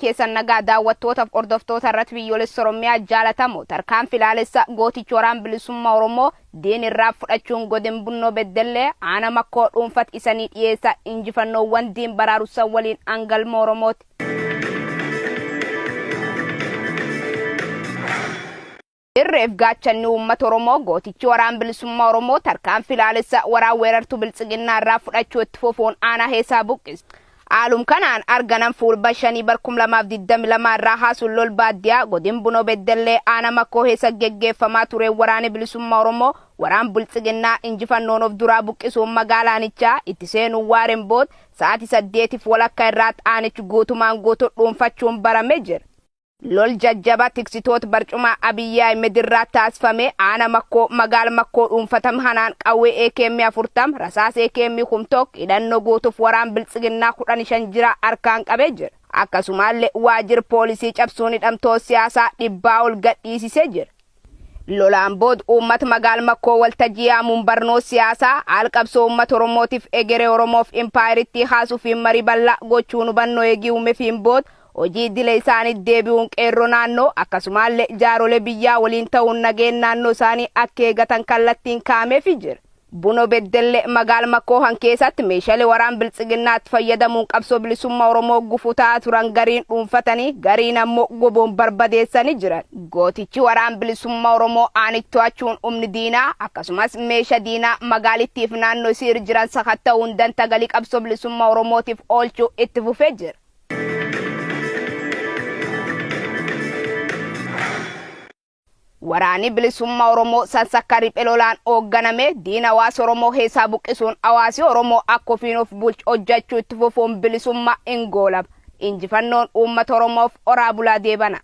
keessan nagaa daawwattootaf hordoftoota irratti biyyoolessa Oromiyaa jaalatamoo tarkaanfi laalessa gootichi waraan bilisummaa Oromoo diin irraa fudhachuun godin bunnoo beddellee aana makkoo dhuunfat isanii dhiyeessa injifannoowwan diin baraarussan waliin angalma Oromooti. Irreef gaachanni uummata Oromoo gootichi Waraan Bilisummaa Oromoo tarkaanfii laalessa waraan weerartuu Biltsiginnaa irraa fudhachuu itti fufuun aanaa Heesaa buqqise. Haalum kanaan arganan Fuulba 5 bar 2022 irraa haasuun lol baaddiyaa godin Bunoo Beddellee aana Makoo Heesa geggeeffamaa tureen waraani Bilisummaa Oromoo waraan Biltsiginnaa injifannoon of duraa buqqisuun magaalaa aanichaa itti seenuun waareen bood sa'aati 8f walakka irraat aanich guutumaan guutu dhuunfachuun barame jira. Lol jajjaba tiksitoot barcumaa Abiy Ahimed irraa taasfame aana makkoo magaal makkoo dhuunfatam hanaan qawwee AKM 40 rasaas AKM kum tok hidhanno guutuf waraan biltsiginnaa 15 jira arkaan qabe jira. Akkasumaalle waajir poolisii cabsuun hidhamtoot siyaasaa dhibbaa ol gadhiisise jira. Lolaan bood uummat magaal makkoo waltajjii yaamuun barnoo siyaasaa aal qabsoo uummat oromootif egeree oromoof impaayerittii kaasufiin marii ballaa gochuun hubannoo eegii uumefiin bood hojii iddile isaaniit deebi'uun qeerroo naannoo akkasumaalle jaarolee biyyaa waliin ta'uun nageen naannoo isaanii akka eegatan kallattiin kaa'amefi jira. Buno Beddelle magaal Makoohan keesaatti meeshale waraan Biltsiginnaatti fayyadamuun qabsoo bilisummaa Oromoo gufuu ta'aa turan gariin dhuunfatanii gariin ammo woboon barbadeessani jiran. Gootichi waraan bilisummaa Oromoo aanich to'achuun umni diinaa akkasumas meesha diinaa magaalittiif naanno isii ir jiran sakatta'uun danta galii qabsoo bilisummaa Oromootiif oolchu itti fufee jira. Waraani Bilisummaa Oromoo sansakka riphe lolaan oogganame diina hawaasa Oromoo keessaa buqqisuun hawaasi Oromoo akka ofiin of bulchu hojjachuu itti fufuun bilisummaa in goolaba. Injifannoon uummata Oromoof horaa bulaa deebana.